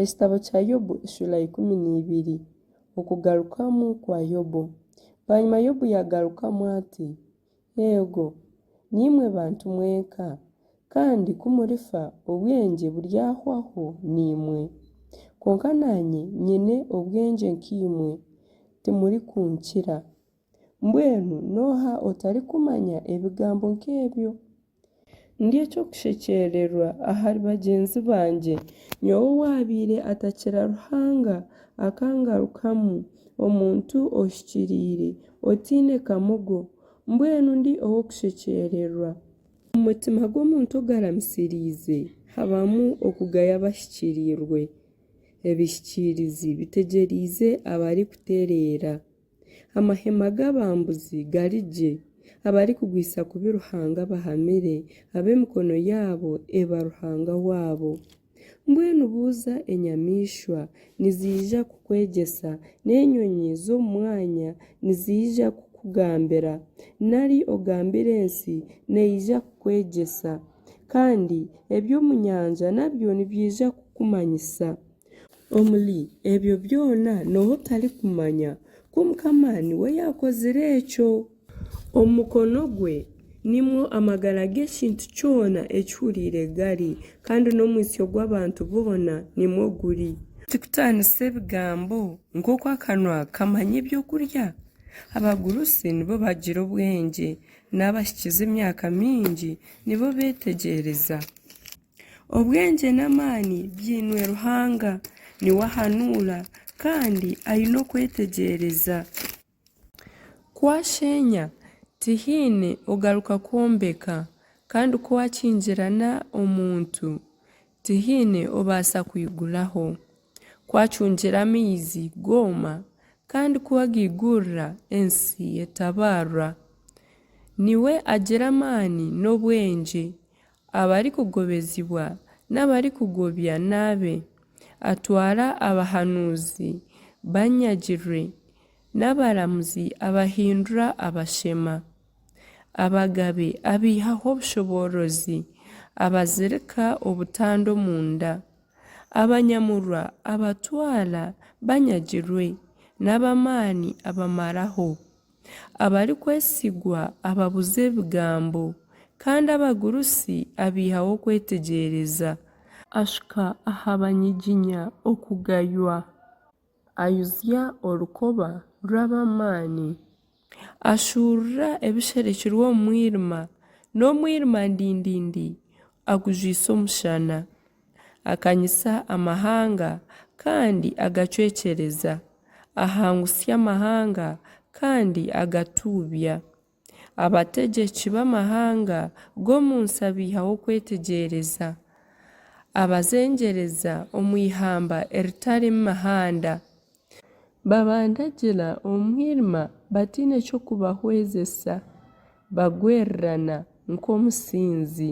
Ekitabo kya Yobu Eshura ikumi na ibiri Okugarukamu kwa Yobu Bwanyima Yobu yaagarukamu ati, Eego, niimwe bantu mwenka, kandi ku murifa obwengye buryahwaho naimwe. Kwonka naanye nyine obwengye nk'eimwe, timurikunkira. Mbwenu n'oha otarikumanya ebigambo nk'ebyo? Ndi eky'okushekyererwa ahari bagyenzi bangye, nyowe owaabaire atakira Ruhanga akangarukamu, omuntu ohikiriire, otaine kamogo, mbwenu ndi ow'okushekyererwa! Omu mutima gw'omuntu ogaramisiriize habamu okugaya abahikiriirwe, ebihikiirizi bitegyereize abarikutereera. Amahema g'abambuzi gari gye, abarikugwisa kubi Ruhanga abahamire, ab'emikono yaabo eba ruhanga waabo. Mbwenu buuza enyamaishwa, niziija kukwegyesa, n'enyonyi z'omu mwanya niziija kukugambira, nari ogambire ensi, neija kukwegyesa, kandi eby'omu nyanja nabyo nibyija kukumanyisa. Omuri ebyo byona n'oha otarikumanya ku Mukama niwe yaakozire ekyo? Omu mukono gwe nimwo amagara g'ekintu kyona ekihuriire gari, kandi n'omwitsyo gw'abantu boona nimwo guri. Tikutaanisa ebigambo nk'oku akanwa kamanya eby'okurya? Abagurusi nibo bagira obwengye, n'abahikizi emyaka mingi nibo beetegyereza. Obwengye n'amaani biinwe Ruhanga. Niwe ahanuura kandi aine okwetegyereza. Ku asheenya, tihaine ogaruka kwombeka, kandi ku akingirana omuntu, tihaine obaasa kwiguraho. Ku acungira amaizi gooma, kandi ku agaigurira, ensi etabaarwa. Niwe agira amaani n'obwengye, Abarikugobezibwa n'abarikugobya n'abe, atwara abahanuuzi banyagirwe, n'abaramuzi abahindura abashema, abagabe abaihaho obushoboorozi, abazirika obutanda omunda, abanyamurwa abatwara banyagirwe, n'ab'amaani abamaraho. abarikwesigwa ababuza ebigambo, kandi abagurusi abaihaho okwetegyereza. Ashuka aha banyiginya okugaywa, ayuzya orukoba rw'ab'amaani. Ashuurura ebisherekirwe omu mwirima, n'omwirima ndindindi agujwisa omushana. Akanyisa amahanga kandi agacwekyereza, ahangutsya amahanga kandi agatuubya. Abategyeki b'amahanga g'omu nsi abaihaho okwetegyereza, abazengyereza omu ihamba eritarimu mihanda. Babandagira omu mwirima bataine ky'okubahwezesa, bagwerirana nk'omusinzi.